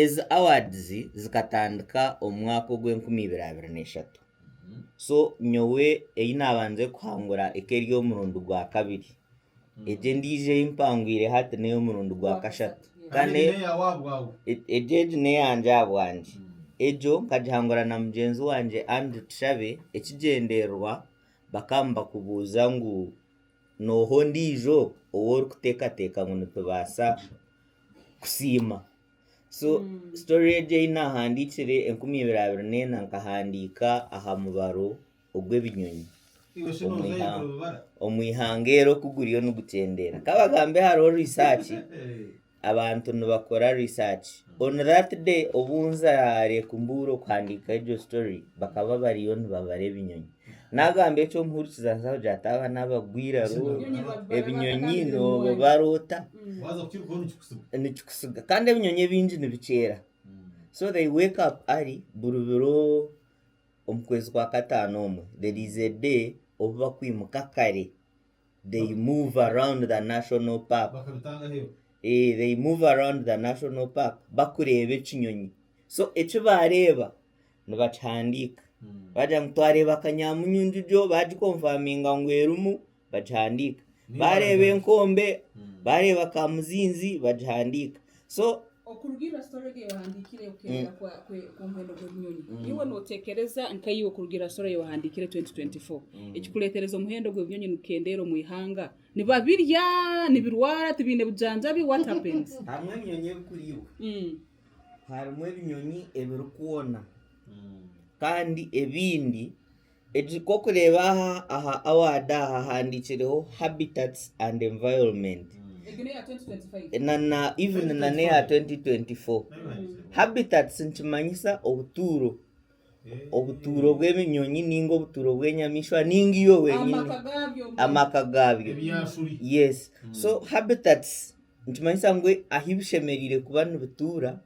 Ezi awards zikatandika omu mwaka ogwa enkumi ibiri abiri na eshatu so nyowe eyi nabanze kuhangura eka eri omurundi gwa kabiri egi endijo eyi mpangwire hati neya omurundi gwa kashatu kandi egyo egi neyangye ahabwangye egyo nkagihangura na mugyenzi wangye Andrew Tushabe ekigyendererwa bakaba nibakubuuza ngu. N'oha ondiijo ou orikuteekateeka ngu nitubaasa kusiima? So sitori egi ei naahandiikire enkumi ibiri abiri n'ena nkahandiika aha mubaro ogw'ebinyonyi omu ihanga eri oku guriyo nigukyendeera. Ka bagambe hariho riisaaki Abantu nibakora research. On that day obu nza Lake Mbuuro kuhandiika egyo story, bakaba bariyo nibabara ebinyonyi. Nagamba eki omuhurikiza aza kugira ati aba n'abagwa eiraro, ebinyonyi nibabibara ota? Nikikusiga. Kandi ebinyonyi ebingi nibikyera. So they wake up early buri biro omu kwezi kwa kataano omwe. There is a day obu bakwimuka kare. they move around the national park eh they move around the national park bakureeba ekinyonyi so eki baareeba nibakihandiika baagira ngu twareeba kanyamunyu njujo baagikomfaminga ngu erimu bagihandiika baareeba enkombe baareeba kamuzinzi bagihandiika so okuruga ira story egi eyohandiikire okenda ku muhendo gw'ebinyonyi iwe notekereza nkaiwe okuruga ira story eyohandiikire 2024 ekikuretereza omuhendo gw'ebinyonyi nigukendeera omu ihanga nibabirya nibirwara tibiine bujanjabi what happens hamwe ebinyonyi ebikuriibwa harimu ebinyonyi ebirikwona kandi ebindi Egi ku orikureeba aha aha award aha hahandiikireho habitats and environment na na even na n'eya 2024. Habitats nikimanyisa obutuuro, obutuuro bw'ebinyonyi ninga obutuuro bw'enyamaishwa ninga iwe wenyini, amaka gaabyo. ebyasuri Yes. So habitats nikimanyisa ngu ahu bishemereire kuba nibituura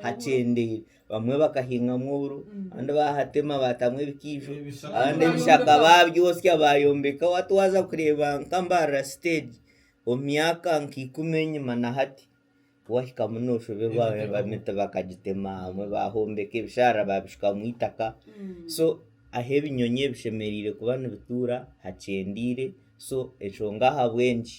hakyendeire. Bamwe bakahingamu oburo abandi bahatema baatamu ebikaijo abandi ebishaka baabyotsya baayombeka hati waaza kureeba nka Mbarara siteegi omu myaka nka ikumi enyima na hati waahikamu nooshoberwa emiti bakagitema abamwe baahombeka ebisharara baabishukamu eitaka so ahu ebinyonyi ebi bishemereire kuba nibituura hakyendire so enshonga ahabw'enki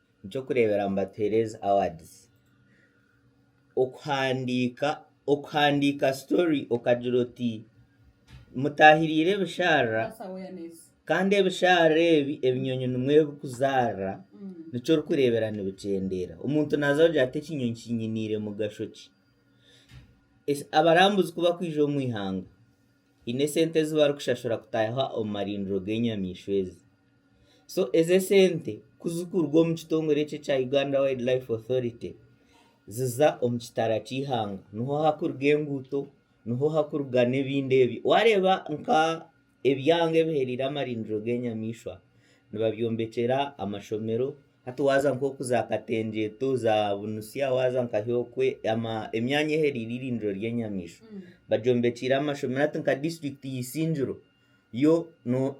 Eky'okureeberaho mbatuhereeze awards. Okuhandiika okuhandiika story okagira oti mutaahiriire ebisharara kandi ebisharara ebi ebinyonyi nimwo ebikuzaarira nikyo orikureebera nibikyendeera. Omuntu naaza kugira ati ekinyonyi kinyiniire mugasho ki? Eki abarambuzi ku bakwija omu ihanga, haine esente ezi barikushashura kutaayaho omu marindiro g'enyamaishwa ezi. So ezo esente ku zirikuruga omu kitongore ekyo ekya Uganda Wild Life Authority ziza omu kitara ky'eihanga niho harikuruga enguuto niho harikuruga n'ebindi ebi waareeba nka ebyanga ebihereire amarindiro g'enyamaishwa nibabyombekyera amashomero hati waaza nk'oku za katengyeto za bunutsya waaza nka hyokwe emyanya ehereire eirindiro ry'enyamaishwa bagyombekiire amashomero hati nka disiturikiti ya isingiro yo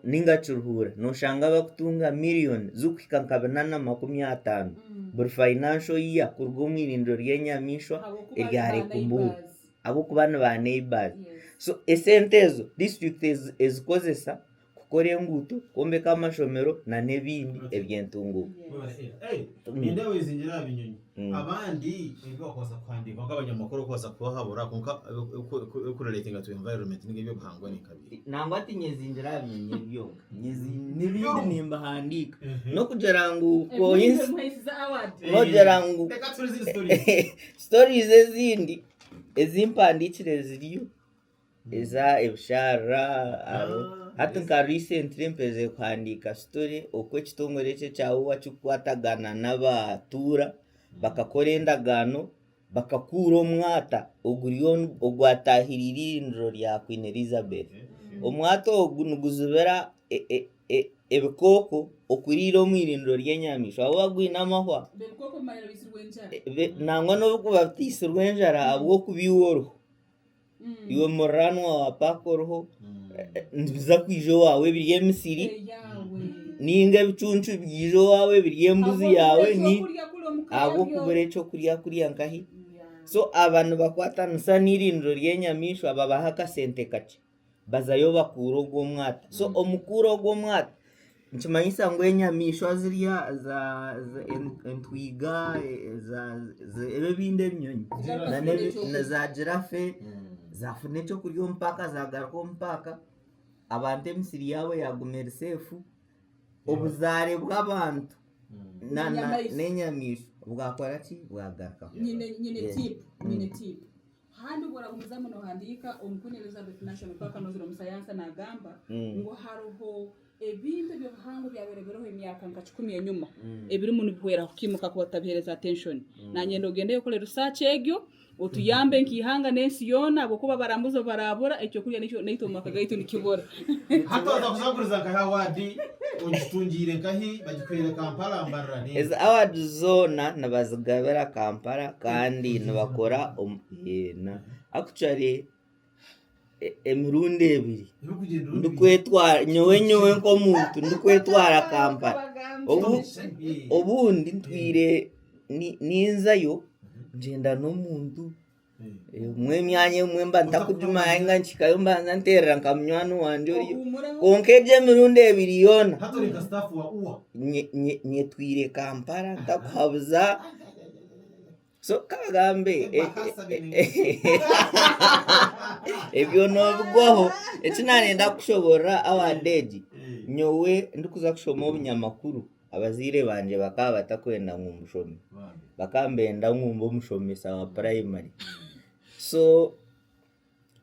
ninga kiruhuura noshanga bakutunga miriyoni zikuhika nka bina na makumi ataano buri financial year kuruga omu irindiro ry'enyamaishwa erya Lake Buru ahabw'okuba ni ba neighbours. So esente ezo district ezikozesa kukora enguuto, kwombeka amashomero na n'ebindi eby'entunguuka. Abandi ebi bakubaasa kuhandiika kwonka abanyamakuru bakubaasa kubahabura kwonka ebikurireetinga tu environment ninga eby'obuhangwa ni nka biri. Nangwa tinyezingira aha binyonyi ebi byonka. N'ebindi nimbihandiika. N'okugira ngu n'ogira ngu stories ezindi ezi mpandiikire ziriyo. Eza ebisharara hati nka recently mperize kuhandiika story oku ekitongore ekyo ekya UWA kikukwatagana n'abatuura bakakora endagaano bakakuura omwata oguri ogwatahire eirindiro rya Queen Elizabeth. Omwata ogu niguzibira e- e- e- ebikooko okuriira omu irindiro ry'enyamaishwa ahakuba gwine amahwa nangwa n'obu bikuba bitaitsirwe enjara ahabw'okubiihwa oruhu. iwe muraanwa wa paaka oriho nibiza kwija owaawe ebiri emisiri ninga ebicuncu byija owaawe ebiri embuzi yaawe ni ahabw'okubura ekyokurya kurya nkahi so aba nibakwatanisa n'eirindiro ry'enyamaishwa babaha akasente kakye Bazayo bakuura ogwo omwata. So mm. omu kuura ogwo omwata nikimanyisa ngu enyamaishwa zirya entwiga ebyo ebindi ebinyonyi za girafe mm. zafuna ekyokurya omu paaka zagaruka omu paaka abantu emisiri yaabo yaguma eri seefu obuzaare bw'abantu mm. n'enyamaishwa bwakora ki bwagarukaho Handi obu oragumizamu nohandiika, Omukuumi Elizabeth National Park anozire omu sayansa nagamba ngu haroho ebintu ebyobuhangwa ebyabaire biriho emyaka nka kikumi enyuma ebirimu nibihwera kukimuka kuba tutabihereza attention. Nanyenda ogendeyo okore research egyo otuyambe nka ihanga nensi yoona habwokuba abarambuzi obu barabura ekyokurya naitwe omu maka gaitu nikibura. Ezi award zoona nibazigabira Kampala kandi nibakora actually emirundi ebiri nyowe nyowe nk'omuntu ndikwetwara Kampala obundi ntwire ninzayo ngyenda n'omuntu emyanya emwe mba ntakugimanya ninga nikihikayo mbanza nterera nka munywani wangye oriyo kwonka egi emirundi ebiri yoona nye- nye- nyetwire kampala ntakuhabuza so kagambe e- e- ebyo nobigwaho eki nayenda kukushoboorora our day egi nyowe ndikuza kushoma obunyamakuru Abazaire bangye bakaba batakwenda ngu mbushome, bakaba nibenda ngu mbe omushomesa wa purayimari. So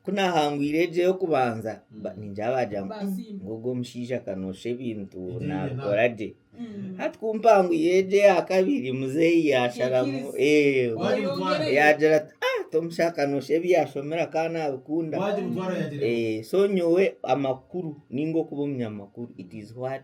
ku naahangwire egyo ey'okubanza ningira baagira ngu "Hmm, ogwo omushaija ka noosha ebintu naabikora gye. Hati ku mpangwire egyo eya kabiri muzeeyi yaasharamu eh, yaagira ati "Ah, tomusha ka noosha ebi yaashomera ka naabikunda. Eh, so nyowe amakuru ninga okuba omunyamakuru it is what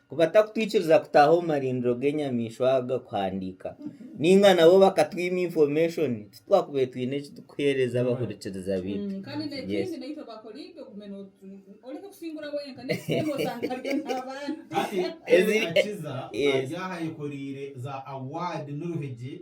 Ku batakutwikiriza kutaaha omu marindiro g'enyamaishwa aga kuhandiika, ninga nabo bakatwima infomeshoni, titwakubaire twine eki turikuheereza abahurikiriza baitu. Yes. Ezi- Ezi- Yes. ayekoreire za award n'oruhigi